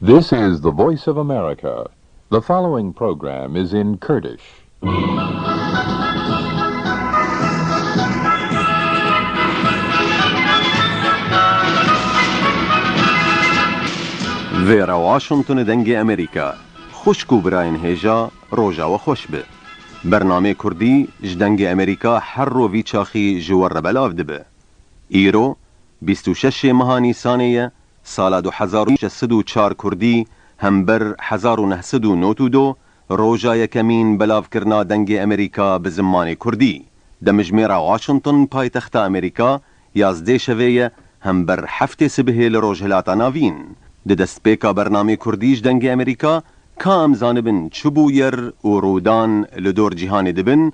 This is the voice of America. The following program is in Kurdish. Vera Washington Dengê Amerika Xwişk û birayên hêja roja we xweş be. Bernameyê Kurdî ji Dengê Amerika her rov vî çaxî ji we re belav dibe. Îro bîst û şeşê meha Nîsanê ye Sala du hezar û şeş sed û çar kurdî hember hezar û neh sed û nod û du roja yekemîn belavkirina dengê Amerîka bi zimanê kurdî di mijmêra Washington paytexta Amerîka yazdê şevê ye hember heftê sibihê li Rojhilata Navîn di destpêka bernamê Kurdî ji dengê Amerîka ka em zanibin çi bûyer û rûdan li dor cîhanê dibin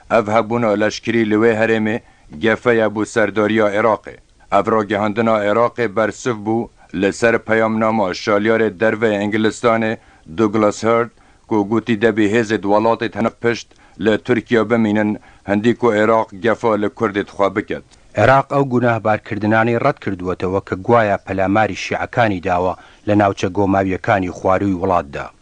Ev hebûna leşkerî li wê herêmê gefeye bo serdariya Iraqê. Ev ragihandina Iraqê bersiv bû li ser peyamnama şalyarê derveyê Ingilistanê Douglas Hurd ku gotî debî hêzê di welatê tenik pişt li Tirkiya bimînin hindî ku Iraq gefa li Kurdê di xwe biket. Iraq ew gunahbarkirdinanê red krdwetwe ke guaya pelemarî şîekanî dawa li navçe gomewyekanî xwarûyî welat de.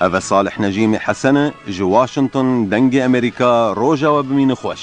Ev e Salih Necîmê Hesene ji Washington dengê Amerîka roja we bimîne xweş.